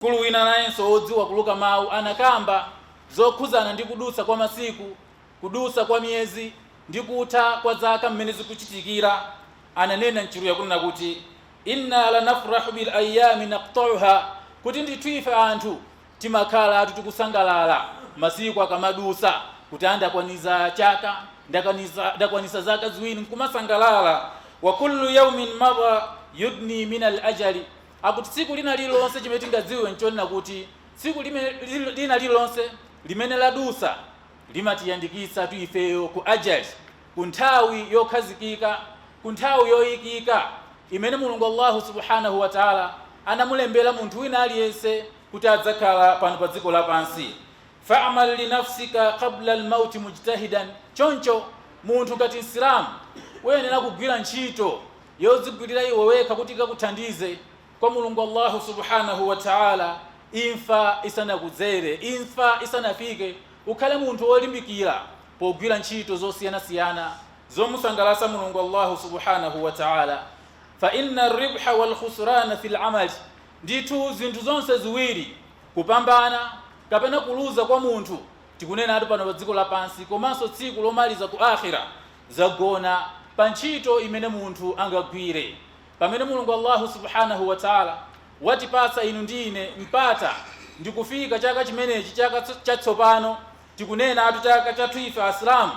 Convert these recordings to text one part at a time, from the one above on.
Mkulu wina nayenso wodziwa kuluka mawu anakamba zokhudzana ndi kudutsa kwa masiku, kudutsa kwa miyezi, ndi kutha kwa zaka mmene zikuchitikira. Ananena m'Chiluya kapena kunena kuti, Inna la nafrahu bil ayyami naqta'uha, kuti ndithu ife anthu timakhalatu tikusangalala masiku akamadutsa, kuti a ndakwaniza chaka, ndakaniza, ndakwanitsa zaka ziwiri, nkumasangalala. Wa kullu yawmin madha yudni min al ajali. Akuti tsiku lina lililonse chimene tingadziwe n'chonena kuti tsiku limene, lina lililonse limene ladutsa limatiyandikitsatu ifeyo ku ajal, ku nthawi yokhazikika, ku nthawi yoikika imene Mulungu Allahu subhânahu wa ta'âlâ anamulembera munthu wina aliyense kuti adzakhala pano pa dziko lapansi. Fa'mal li nafsika qabla al-mawti mujtahidan, Choncho, munthu ngati Msilamu, uyenera kugwira ntchito yodzigwirira iwe wekha kuti ikakuthandize kwa Mulungu Allahu subhanahu wa ta'âlâ imfa isanakudzere, imfa isanafike, ukhale munthu wolimbikira pogwira ntchito zosiyanasiyana zomusangalatsa Mulungu Allahu subhanahu wa ta'âlâ. Fa inna ar-ribha wal khusrana fil 'amal, ndithu zinthu zonse ziwiri, kupambana kapena kuluza kwa munthu, tikunenatu pano pa dziko lapansi komanso tsiku lomaliza ku Aakhirah, zagona pa ntchito imene munthu angagwire. Pamene Mulungu Allahu subhanahu wa Ta'la watipatsa inu ndi ine mpata ndikufika chaka chimenechi, chaka chatsopano, tikunenatu chaka chathu ife Asilamu,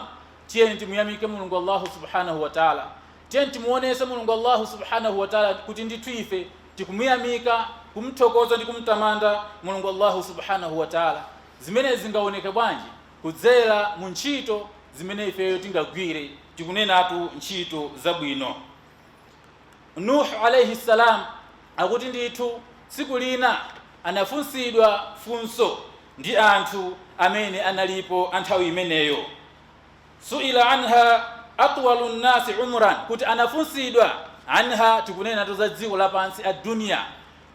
tiyeni timuyamike Mulungu Allahu subhanahu wa Ta'la. Tiyeni timuonese Mulungu Allahu subhanahu wa Ta'la kuti ndithu ife tikumuyamika, kumthokoza ndi kumtamanda Mulungu Allahu subhanahu wa Ta'la. Zimenezi zingaoneke bwanji? kudzera mu ntchito zimene ifeyo tingagwire, tikunenatu ntchito zabwino. Nuh alaih salaam akuti ndithu tsiku lina anafunsidwa funso ndi anthu amene analipo a nthawi imeneyo, Suila anha atwalu nnaasi umran, kuti anafunsidwa, anha, tikunenatu za dziko lapansi, adduniya,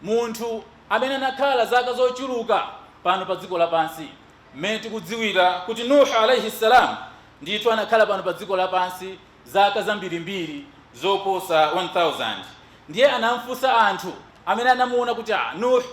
munthu amene anakhala zaka zochuluka pano pa dziko lapansi, Mmene tikudziwira kuti Nuh alaih salaam ndithu anakhala pano pa dziko lapansi zaka zambirimbiri zoposa 1000, ndiye anam'funsa anthu amene anamuona kuti, Ah, Nuh,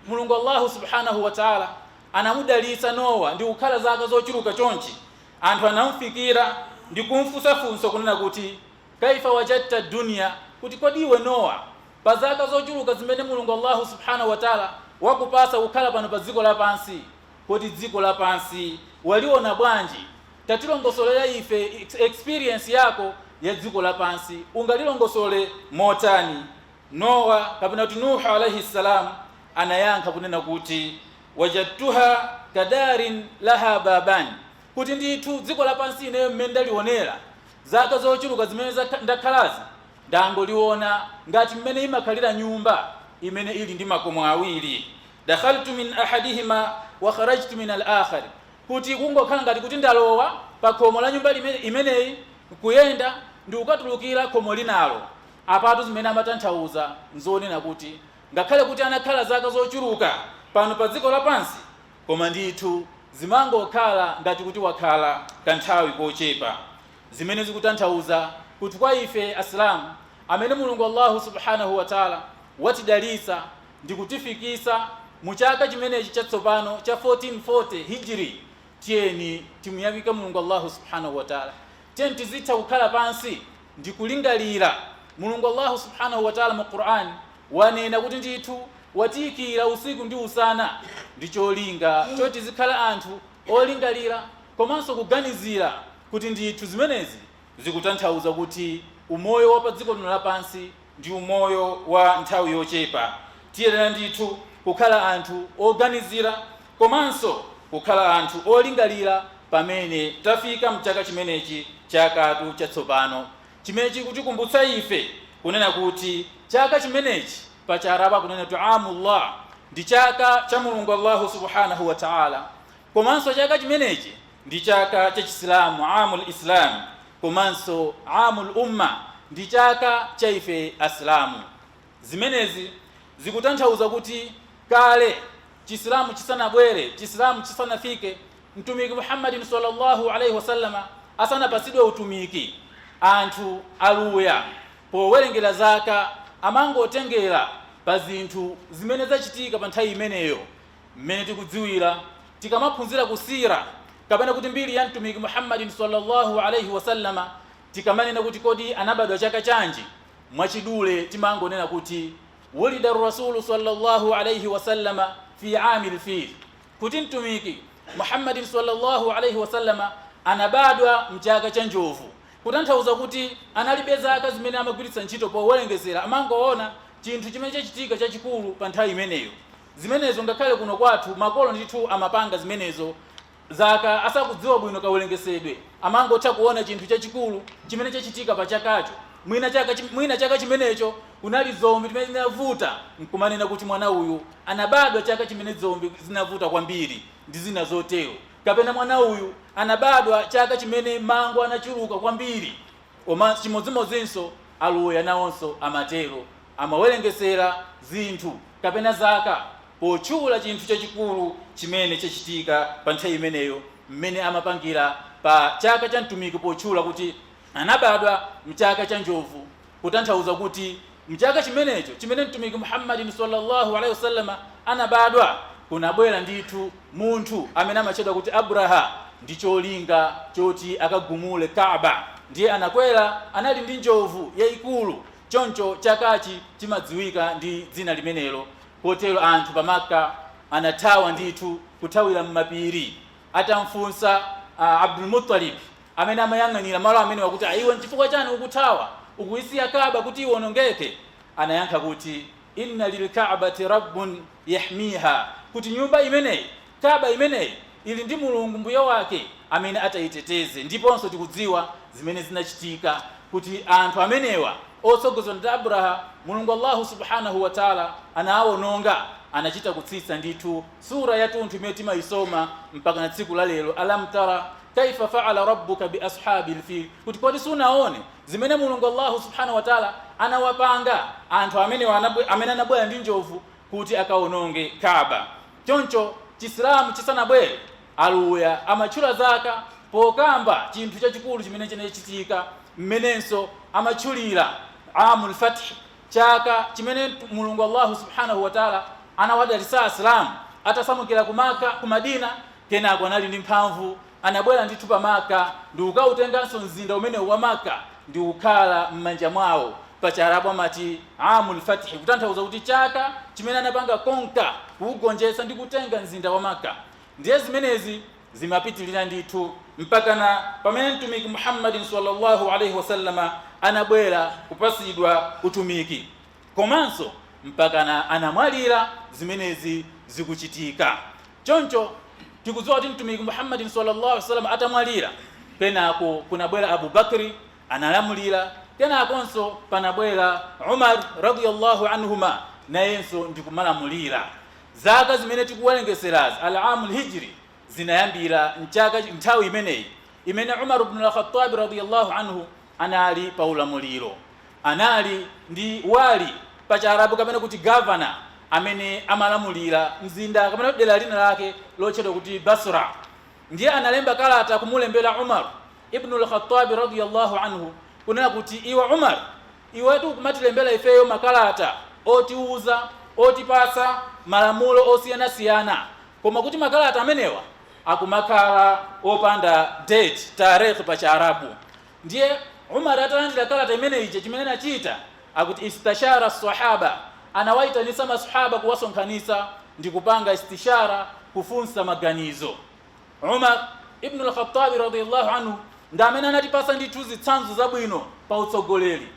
Mulungu Allahu subhaanah wa Ta'la anamudalitsa Noah ndikukhala zaka zochuluka chonchi, anthu anam'fikira ndikum'funsa funso kunena kuti, Kaifa wajadta dunya, kuti kodi iwe Noah, Pa zaka zochuluka zimene Mulungu Allahu subhanahu wa Ta'la wakupatsa kukhala pano pa dziko lapansi, kodi dziko lapansi waliona bwanji? Tatilongosolera ife experience yako ya dziko lapansi, ungalilongosole motani? Nowa kapena kuti Nuh alaih salaam anayankha kunena kuti, Wajadtuha kadarin laha babani, kuti ndithu dziko lapansi ineyo mmene ndalionera zaka zochuluka zimene ndakhalazi, Ndangoliona ngati mmene imakhalira nyumba imene ili ndi makomo awiri, dakhaltu min ahadihima wa kharajtu min al-akhar, kuti kungokhala ngati kuti ndalowa pakhomo la nyumba imeneyi nkuyenda ndikukatulukira khomo linalo. Apatu zimene amatanthauza nzonena kuti ngakhale kuti anakhala zaka zochuluka pano pa dziko lapansi, koma ndithu zimangokhala ngati kuti wakhala kanthawi kochepa. Zimene zikutanthauza kuti kwa ife Asilamu amene Mulungu Allahu subhânahu wa ta'âlâ watidalitsa ndikutifikitsa mu chaka chimenechi chatsopano cha 1440 Hijri, tiyeni timuyamike Mulungu Allahu subhânahu wa ta'âlâ. Tiyeni tizitha kukhala pansi ndikulingalira. Mulungu Allahu subhânahu wa ta'âlâ mu Qur'an wanena kuti ndithu watiikira usiku ndi usana ndicholinga choti tizikhala anthu olingalira komanso kuganizira. kuti ndithu zimenezi zikutanthauza kuti umoyo wa padziko lino lapansi ndi umoyo wa nthawi yochepa, tiyenera ndithu kukhala anthu oganizira komanso kukhala anthu olingalira pamene tafika mchaka chimenechi chathu chatsopano chimene chikutikumbutsa ife kunena kuti chaka chimenechi pa Chiarabu akunena kuti Aamullah ndi chaka cha Mulungu Allahu Subhaanah wa Ta'ala komanso chaka chimenechi ndi chaka cha Chisilamu, Aamul Islam, komanso Aamul Umma, ndi chaka cha ife Asilamu. Zimenezi zikutanthauza kuti kale Chisilamu chisanabwere, Chisilamu chisanafike, Mtumiki Muhammad sallallâhu alaihi wa sallam asanapatsidwe utumiki, anthu Aluya powerengera zaka amangotengera pa zinthu zimene zachitika pa nthawi imeneyo, Mmene tikudziwira, Tikamaphunzira ku Siirah kapena kuti mbiri ya Mtumiki Muhammad sallallâhu alaihi wa sallama, tikamanena kuti kodi anabadwa chaka chanji, mwachidule timangonena kuti Wulida ar-Rasulu sallallâhu alaihi wa sallama fi aamil fil, kuti Mtumiki Muhammad sallallâhu alaihi wa sallama anabadwa mchaka cha njovu, kutanthauza kuti analibe zaka zimene amagwiritsa ntchito powerengezera, amangoona chinthu chimene chachitika chachikulu pa nthawi imeneyo. zimenezo ngakhale kuno kwathu makolo ndithu amapanga zimenezo zaka asakudziwa bwino kawerengesedwe amangotha kuona chinthu chachikulu chimene chachitika pa chakacho mwina chaka chim- mwina chaka chimenecho kunali dzombe zimene zinavuta nkumanena kuti mwana uyu anabadwa chaka chimene dzombe zinavuta kwambiri ndi zina zotero kapena mwana uyu anabadwa chaka chimene mango anachuluka kwambiri N'chimodzimodzinso Aluya nawonso amatero, amawerengezera zinthu kapena zaka potchula chinthu chachikulu chimene chachitika pa nthawi imeneyo, mmene amapangira pa chaka cha mtumiki potchula kuti anabadwa m'chaka cha njovu, kutanthauza kuti Mchaka chimenecho chimene Mtumiki Muhammadi salla Allah alaih wasallam anabadwa, kunabwera ndithu munthu amene amatchedwa kuti Abraha ndi cholinga choti akagumule Ka'bah. Ndiye anakwera, anali ndi njovu yaikulu, choncho chakachi chimadziwika ndi dzina limenelo. Kotero anthu pa Makkah anathawa ndithu, kuthawira mmapiri, atamfunsa Abdul Muttalib. Amene amayang'anira malo amenewa kuti, Iwe n'chifukwa chiyani ukuthawa? Ukuisiya Ka'bah kuti iwonongeke? Anayankha kuti, Inna lil Ka'bati Rabbun yahmiha, kuti nyumba imeneyi, Ka'bah imeneyi, ili ndi Mulungu Mbuye wake amene ataiteteze. Ndiponso tikudziwa zimene zinachitika kuti anthu amenewa otsogozedwa ndi Abraha, Mulungu Allahu subhânahu wa ta'âlâ anawaononga. Anachita kutsitsa ndithu. Surah yatunthu imene timayisoma mpakana tsiku la lero, Alam tara kaifa faala rabbuka bi ashabil fil, kuti kodi sunaone zimene Mulungu Allahu subhana watala anawapanga anthu amene anabwera ndi njovu kuti akaononge Kaaba. Choncho Chisilamu chisanabwere, Aluya amatchula zaka pokamba chinthu chachikulu chimene chinachitika, mmenenso amatchulira Aamul Fath. Chaka chimene Mulungu Allahu subhanahu wa Ta'la anawadalitsa Asilamu atasamukira ku Makka, ku Madina, kenako anali ndi mphamvu anabwera ndithu pa Makka ndikukautenganso mzinda umenewu wa Makka ndikukhala m'manja mwawo, pa Chiarabu amati Aamul Fathi kutanthauza kuti chaka chimene anapanga conquer, kuugonjetsa ndi kutenga mzinda wa Makka. Ndiye zimenezi. zimapitilira ndithu mpakana pamene Mtumiki Muhammadi sallallâhu alaihi wa sallama anabwera kupasidwa utumiki komanso mpakana anamwalira zimenezi zikuchitika. Choncho tikudziwa kuti Mtumiki Muhammadi sallallâhu alaihi wa sallam atamwalira, kenako kunabwera Abu Bakri analamulira, kenakonso panabwera Umar radiyallâhu anhumâ nayenso ndikumalamulira. Zaka zimene tikuwerengetserazi, Al-Aamul Hijri, zinayambira nthawi imeneyi, imene Umar ibn al-Khattab radiyallahu anhu anali pa ulamuliro. Anali ndi wali, pa Chiarabu kapena kuti governor, amene amalamulira mzinda kapena kuti dera lina lake lotchedwa kuti Basra. Ndiye analemba kalata kumulembera Umar ibn al-Khattab radiyallahu anhu kunena kuti, Iwe Umar! Iwetu ukumatilembera ifeyo makalata otiuza, otipatsa malamulo osiyanasiyana koma kuti makalata amenewa akumakhala opanda date, tareekh pa chiarabu. Ndiye Umar atalandira kalata imeneyi chimene anachita akuti istashara as-sahaba, anawaitanitsa maswahaba kuwasonkhanitsa ndikupanga istishara, kufunsa maganizo. Umar Ibnu Al-Khattabi radhia Allah anhu ndi amene anatipasa ndithu zitsanzo zabwino pa utsogoleri.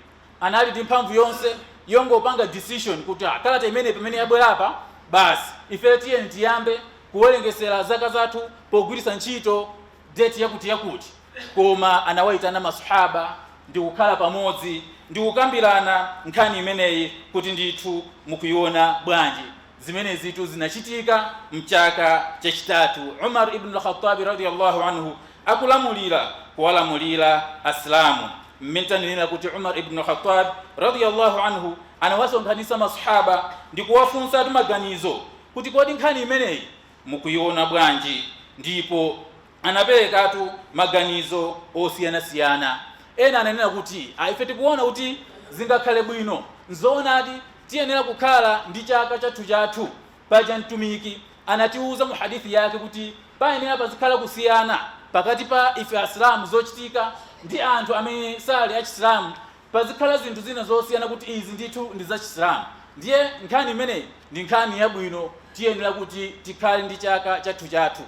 Anali ndi mphamvu yonse yongopanga decision kuti ah, kalata imeneyi pamene yabwera apa basi ife tiyeni tiyambe kuwerengesera zaka zathu pogwiritsa ntchito date yakuti yakuti. Koma anawaitana maswahaba ndi kukhala pamodzi ndi kukambirana nkhani imeneyi kuti ndithu mukuiona bwanji. Zimenezitu zinachitika m'chaka chachitatu Umar Ibn Al-Khattabi radhia Allah anhu akulamulira, kuwalamulira Asilamu, m'mene tanenera kuti Umar Ibn Al-Khattab radhia Allah anhu anawasonkhanitsa ma Swahaba ndikuwafunsatu maganizo kuti kodi nkhani imeneyi mukuiona bwanji ndipo. anaperekatu maganizo osiyanasiyana. Ena ananena kuti, a Ife tikuona kuti zingakhale bwino, n'zoonadi, tiyenera kukhala ndi chaka chathuchathu. Paja Mtumiki anatiuza mu Hadith yake kuti payenera pazikhala kusiyana pakati pa ife Asilamu zochitika ndi anthu amene sali a Chisilamu. Pazikhala zinthu zina zosiyana kuti izi ndithu ndi za Chisilamu. Ndiye nkhani imeneyi ndi nkhani yabwino, tiyenera kuti tikhale ndi chaka chathuchathu.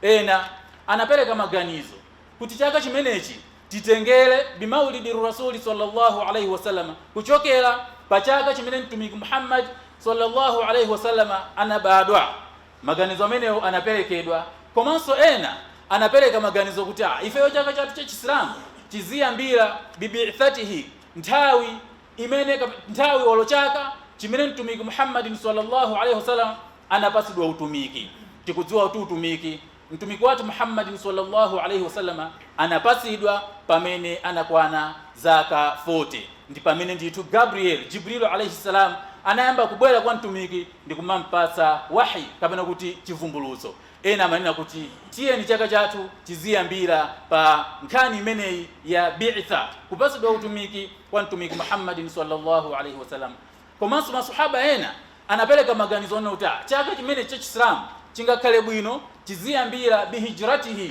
Ena anapeleka maganizo kuti chaka chimenechi titengele bimaulidir-rasuli sallallâhu alaihi wa sallam kuchokera pa chaka chimene Mtumiki Muhammad sallallâhu alaihi wa sallam anabadwa. Maganizo amenewo anapelekedwa. Komanso ena anapeleka maganizo kuti ah ifeyo chaka chathu cha Chisilamu chiziyambira bi-bi'thatihi, nthawi imene kap nthawi olo chaka chimene Mtumiki Muhammadin sallallâhu alaihi wa sallam anapatsidwa utumiki. Tikudziwa kuti utumiki Mtumiki wathu Muhammadin sallallâhu alaihi wa sallam anapatsidwa pamene anakwana zaka 40. Ndi pamene ndithu Gabriel, Jibrilu alaihi-salam, anayamba kubwera kwa Mtumiki ndikumampatsa wahi kapena kuti chivumbulutso. Ena amanena kuti tiyeni chaka chathu tiziyambira pa nkhani imeneyi ya bi'tha, kupatsidwa utumiki, wa Mtumiki Muhammadin swalla Allahu alaih wasallam. Komanso ma Swahaba ena anapereka maganizo onena kuti ah chaka chimenechi cha Chisilamu chingakhale bwino tiziyambira bi hijratihî,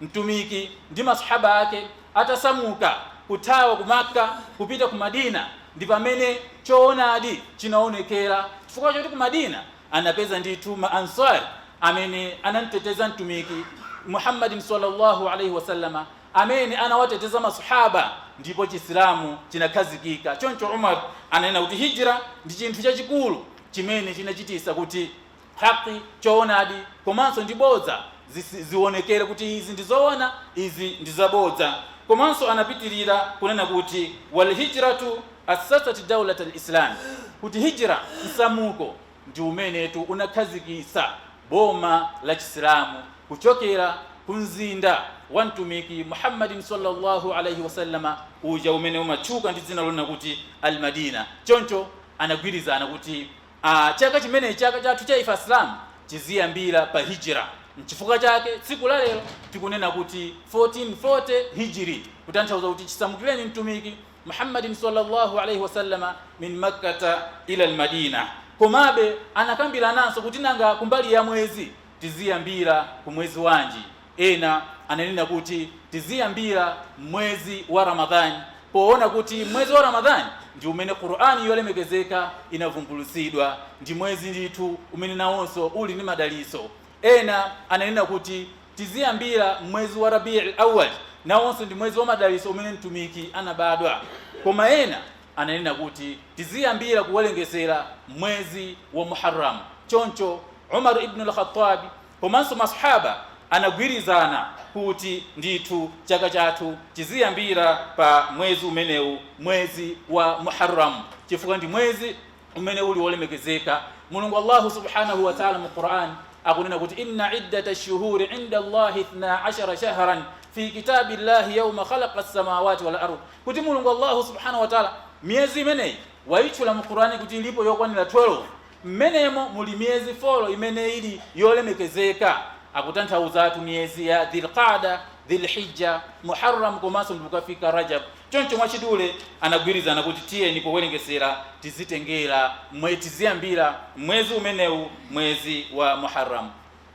Mtumiki ndi ma Swahabah ake atasamuka, kuthawa ku Makka kupita ku Madina, ndi pamene choonadi chinaonekera, chifukwa choti ku Madina anapeza ndithu ma Ansar amene anamteteza Mtumiki Muhammadin sallallâhu alaihi wa sallam, amene anawateteza ma Swahaba, ndipo Chisilamu chinakhazikika. Choncho Umar ananena kuti Hijra ndi chinthu chachikulu chimene chinachitisa kuti. haqqi, choonadi, komanso ndi bodza zisi, zionekere kuti izi ndi zoona, izi ndi zabodza. Komanso anapitirira kunena kuti wal hijratu assasat daulat al Islam, kuti hijra, msamuko, ndi umenetu unakhazikitsa boma la Chisilamu kuchokera ku mzinda wa Mtumiki Muhammadin sallallahu alaihi wa sallam uja umene umatchuka ndi dzina lonena kuti al Madina. Choncho anagwirizana kuti. a chaka chimenechi, chaka chathu cha ife Asilamu tiziyambira pa Hijira. Nchifukwa chake tsiku la lero tikunena kuti 1440 Hijri, kutanthauza kuti chisamukireni Mtumiki Muhammadin swalla Allahu alaih wasallam min Makkata ila al-Madinah. Komabe anakambirananso kuti nanga kumbali ya mwezi tiziyambira ku mwezi wanji? Ena ananena kuti tiziyambira m'mwezi wa Ramadhan poona kuti m'mwezi wa Ramadhan ndi umene Qur'an yolemekezeka inavumbulutsidwa, ndi mwezi ndithu umene nawonso uli ndi madalitso. Ena ananena kuti tiziyambira m'mwezi wa Rabi'l Awwal, nawonso ndi mwezi wa madalitso umene Mtumiki anabadwa. Koma ena ananena kuti tiziyambira kuwerengesera m'mwezi wa Muharram. Choncho Umar ibnul Khattab. komanso ma Swahaba anagwirizana kuti ndithu chaka chathu chiziyambira pa mwezi umenewu, mwezi wa Muharram, chifukwa ndi mwezi umene uli wolemekezeka. Mulungu Allahu subhanahu wa ta'ala mu Qur'an akunena kuti, Inna iddata shuhuri inda Allahi ithna ashara shahran fi kitabi Allahi yawma khalaqa samawati wal ardh, kuti Mulungu Allahu subhanahu wa ta'ala miyezi imeneyi waitchula mu Qur'an kuti ilipo yokwanira 12. M'menemo muli miyezi folo imene ili yolemekezeka, akutanthauzatu miyezi ya Dhil-Qaada, Dhil-Hijja, Muharram komanso ndikukafika Rajab. Choncho mwachidule anagwirizana kuti tiyeni kuwerengesera tizitengera mwe, tiziyambira, m'mwezi umenewu, mwezi wa Muharram.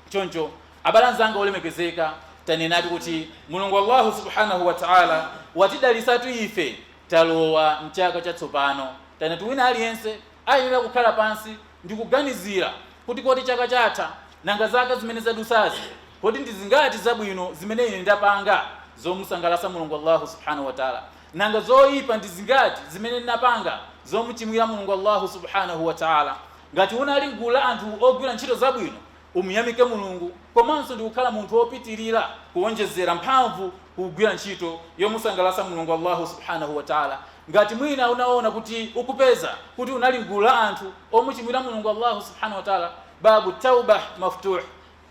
Choncho abale anzanga olemekezeka, tanenatu kuti Mulungu Allahu Subhaanah wa Ta'ala watidalitsatu ife Talowa m'chaka chatsopano. Tanati wina aliyense ayenera kukhala pansi ndi kuganizira kuti, Kodi chaka chatha, nanga zaka zimene zadutsazi, kodi ndi zingati zabwino zimene ine ndapanga zomusangalatsa Mulungu Allahu subhanahu wa ta'âlâ? Nanga zoipa ndi zingati zimene ndinapanga zomuchimwira Mulungu Allahu subhanahu wa ta'âlâ? Ngati unali m'gulu la anthu ogwira ntchito zabwino, umuyamike Mulungu komanso ndikukhala munthu wopitilira kuwonjezera mphamvu kugwira ntchito yomusangalatsa Mulungu Allahu subhanahu wa Ta'la. Ngati mwina unaona kuti ukupeza kuti unali m'gulu la anthu omuchimwira Mulungu Allahu subhanahu wa Ta'la, babu tawbah maftuh,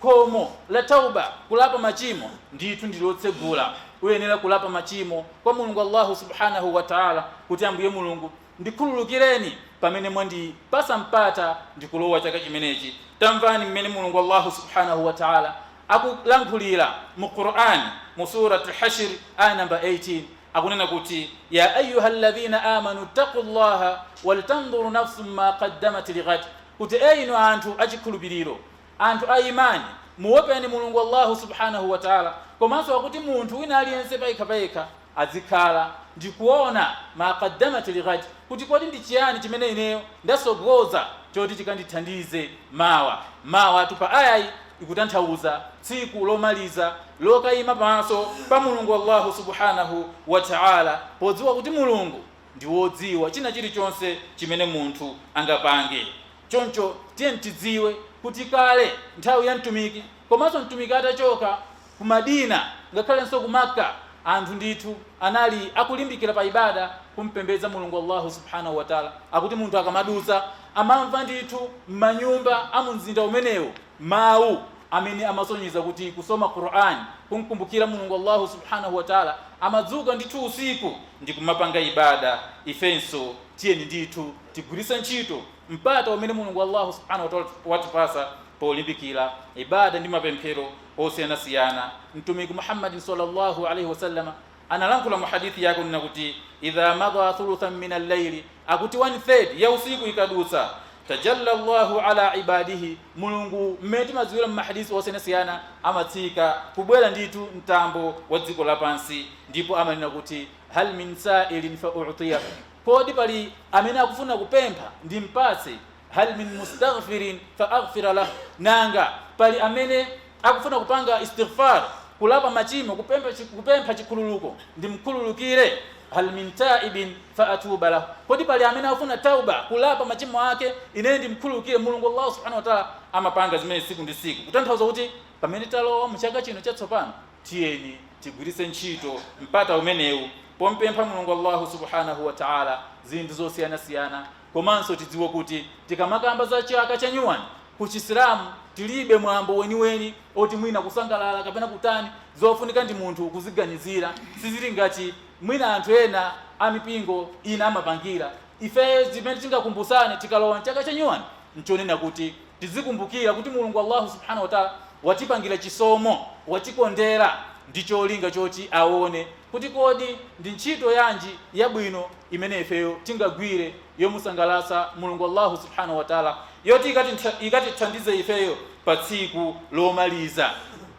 khomo la tawbah, kulapa machimo, ndithu ndi lotsegula. Uyenera kulapa machimo kwa Mulungu Allahu subhanahu wa Ta'la kuti Ambuye Mulungu Ndikhululukireni pamene mwandipatsa mpata ndikulowa chaka chimenechi. Tamvani mmene Mulungu Allahu subhanahu wa ta'ala akulankhulira mu Qur'an mu Surat Al Hashr ayah number 18, akunena kuti, Ya ayyuhalladhina amanu ittaqullaha waltanzur nafsum ma qaddamat lighad, kuti, E inu anthu achikhulupiriro! Anthu a Imaan, muwopeni Mulungu Allahu subhaanahu wa Ta'la komanso akuti munthu wina aliyense payekha payekha azikhala ndikuona maa qaddamat li ghad, kuti kodi ndi chiyani chimene ineyo ndatsogoza choti chikandithandize mawa. Mawatu pa ayayi ikutanthauza tsiku lomaliza lokaima pamaso pa Mulungu Allahu subhaanahu wa Ta'la podziwa kuti Mulungu ndi wodziwa china chilichonse chimene munthu angapange. Choncho tiyeni tidziwe kuti kale nthawi ya Mtumiki komanso Mtumiki atachoka ku Madina ngakhalenso ku Makka, anthu ndithu anali akulimbikira pa ibaada, kumpembedza Mulungu Allahu Subhaanahu wa Ta'la, akuti munthu akamadutsa amamva ndithu mmanyumba a mumzinda umenewo mau amene amasonyeza kuti kusoma Qur'an, kumkumbukira Mulungu Allahu Subhaanahu wa Ta'la, amadzuka ndithu usiku ndikumapanga ibaada, ifenso tiyeni ndithu. Tigwiritse ntchito mpata umene Mulungu Allahu subhanahu wa ta'ala watipatsa polimbikira ibaada ndi mapemphero osiyanasiyana. Mtumiki Muhammad sallallahu alaihi wa sallam analankhula mu hadith yake kunena kuti idha madha thuluthan min al-layli, akuti 1/3 ya usiku ikadutsa, tajalla Allahu ala ibadihi, Mulungu mmene timadziwira mu mahadith osiyanasiyana amatsika kubwera ndithu mtambo wa dziko lapansi ndipo amanena kuti hal min sa'ilin fa u'tiyah, Kodi pali amene akufuna kupempha ndimpatse? Hal min mustaghfirin fa aghfira lah, Nanga pali amene akufuna kupanga istighfar, kulapa machimo, kupempha chikhululuko, ndimkhululukire? Hal min taibin fa atuba lah, Kodi pali amene akufuna tawba, kulapa machimo ake, ine ndimkhululukire? Mulungu Allah Subhanahu Wataala amapanga zimenezi tsiku ndi tsiku. Kutanthauza kuti pamene talowa mu chaka chino chatsopano, Tiyeni tigwiritse ntchito mpata umenewu pompempha Mulungu Allahu subhânahu wa ta'âlâ zinthu zosiyanasiyana. Komanso tidziwe kuti tikamakamba za chaka cha nyuwani ku Chisilamu tilibe mwambo weniweni oti mwina kusangalala kapena kutani. Zofunika ndi munthu kuziganizira. Sizili ngati mwina anthu ena a mipingo ina amapangira. Ifeyo zimene tingakumbutsane tikalowa chaka cha nyuwani n'chonena kuti. Tidzikumbukira kuti Mulungu Allahu subhanahu wa ta'ala watipangira chisomo, watikondera ndi cholinga choti aone kuti kodi ndi ntchito yanji yabwino imene ifeyo tingagwire yomusangalatsa Mulungu Allahu subhanahu wa ta'ala yoti ikatithandize ifeyo pa tsiku lomaliza.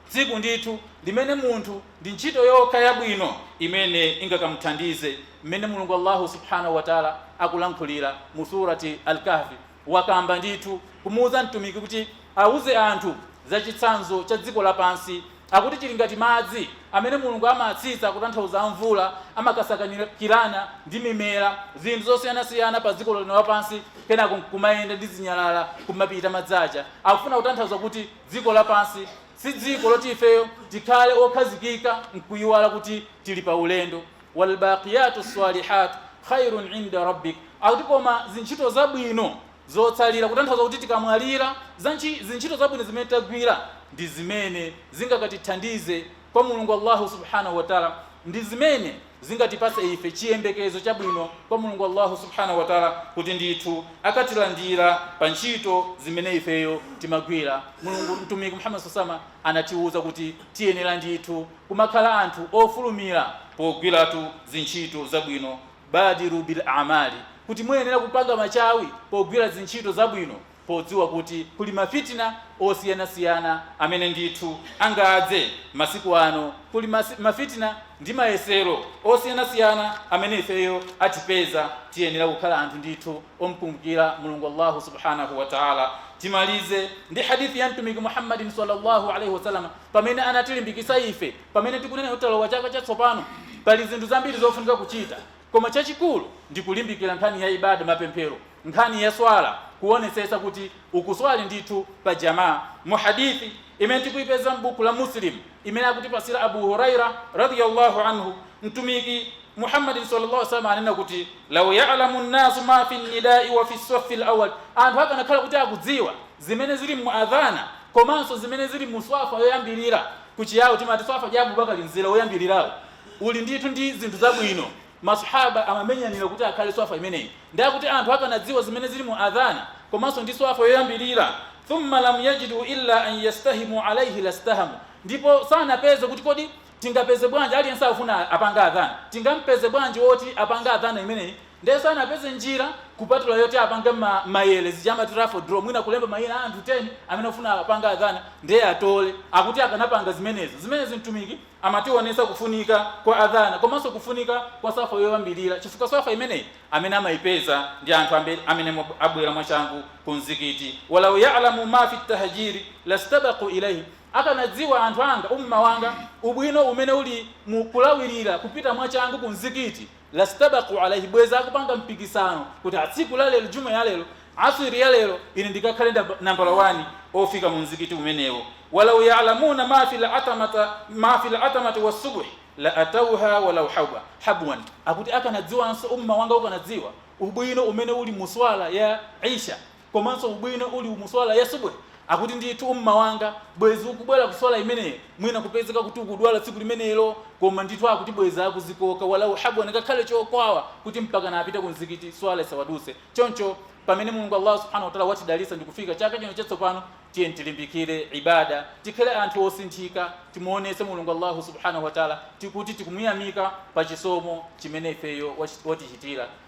Tsiku ndithu limene munthu ndi ntchito yokha yabwino imene ingakamuthandize mmene Mulungu Allahu subhanahu wa ta'ala akulankhulira mu surati Al-Kahfi wakamba ndithu kumuuza Mtumiki kuti auze anthu za chitsanzo cha dziko lapansi, akuti chili ngati madzi amene Mulungu amatsitsa, kutanthauza a mvula, amakasakanikirana ndi mimera, zinthu zosiyanasiyana pa dziko lino lapansi, kenako nkumayenda ndi zinyalala kumapita madzi aja. Akufuna kutanthauza kuti dziko lapansi si dziko loti ifeyo tikhale okhazikika nkuiwala kuti tili pa ulendo. Walbaqiyatu sswalihat khairun inda Rabbik, akuti koma zintchito zabwino zotsalira, kutanthauza kuti tikamwalira, zintchito zabwino zimene tagwira ndi zimene zingakatithandize kwa Mulungu Allahu subhanahu wa Ta'la, ndi zimene zingatipatse ife chiyembekezo chabwino kwa Mulungu Allahu subhanahu wa Ta'la kuti ndithu akatilandira pa ntchito zimene ifeyo timagwira. Mulungu Mtumiki Muhammad sallallahu alaihi wasallam anatiuza kuti tiyenera ndithu kumakhala anthu ofulumira pogwiratu zintchito zabwino, baadiru bil amali, kuti muyenera kupanga machawi pogwira zintchito zabwino podziwa kuti kuli ma fitna osiyanasiyana amene ndithu angadze masiku ano, kuli ma fitna ndi mayesero osiyanasiyana amene ifeyo atipeza, tiyenera kukhala anthu ndithu omkumbukira Mulungu Allahu subhanahu wa Ta'la. Timalize ndi hadith ya Mtumiki Muhammad salla Allahu alaih wasallam. pamene anatilimbikitsa ife, pamene tikunena kuti talowa chaka chatsopano. Pali zinthu zambiri zofunika kuchita, koma chachikulu ndi kulimbikira nkhani ya Ibadah, mapemphero, nkhani ya Swalah, kuonetsetsa kuti ukuswali ndithu pa Jamaa. Mu Hadith imene tikuipeza m'bukhu la Muslim imene akutipatsira Abu Hurairah, Radhiyallahu Anhu, Mtumiki, Muhammadin salla Allahu alaihi wasallam ananena kuti, Law ya'lamu an-nasu ma fi an-nida'i wa as-saffi al-awwal, anthu akanakhala kuti akudziwa zimene zili mu adhana komanso zimene zili mu swafa yoyambilira, ku Chiyawo timati swafa ya Abubakar, mzere woyambilirawo uli ndithu ndi zinthu zabwino, ma Swahaba amamenyanira kuti akhale swafa imeneyi, ndi akuti anthu akanadziwa zimene zili mu adhana komanso ndi swafa yoyambilira, thumma lam yajidu illa an yastahimu alaihi lastahamu, ndipo sanapeze kuti kodi. tingapeze bwanji aliyense akufuna apange Adhan tingampeze bwanji woti apange Adhan imeneyi nde sanapeze njira kupatula yoti apange mma mayere zija amati raffle draw mwina kulemba mayina a anthu 10 amene akufuna apange Adhan nde atole akuti akanapanga zimenezi zimenezi Mtumiki amationetsa kufunika kwa Adhan komanso kufunika kwa swafa yoyambilira chifukwa swafa imeneyi amene amaipeza ndi anthu ambiri amene abwera mwachangu ku mzikiti wa law ya'lamu ma fi tahjiri lastabaqu ilayhi Akanadziwa anthu anga, umma wanga, ubwino umene uli mu kulawirira, kupita mwachangu ku mzikiti, lastabaku ilaihi, bwezi akupanga mpikisano kuti a tsiku la lero, jumuah ya lero, Asr ya lero, ine ndikakhale nambala wani ofika mu mzikiti umenewo. Walau ya'lamuna ma fil atamata, ma fil atamati was-subhi la atawha walau hawba, habwan. Akuti akanadziwanso, umma wanga ukanadziwa, ubwino umene uli mu Swala ya Isha, komanso ubwino uli mu Swala ya Subh akuti ndithu Ummah wanga bwezi ukubwera ku Swala imeneyo mwina kupezeka kuti ukudwala tsiku limenelo koma ndithu akuti bwezi akuzikoka walau habwan ngakhale chokwawa kuti mpakana apite ku mzikiti Swala isawaduse choncho pamene Mulungu Allah Subhanahu wa Ta'ala watidalitsa ndikufika chaka chino chatsopano tiyeni tilimbikire ibada tikhale anthu osinthika timuonetse Mulungu Allah Subhanahu wa Ta'ala kuti tikumuyamika pa chisomo chimene ifeyo wach- watichitira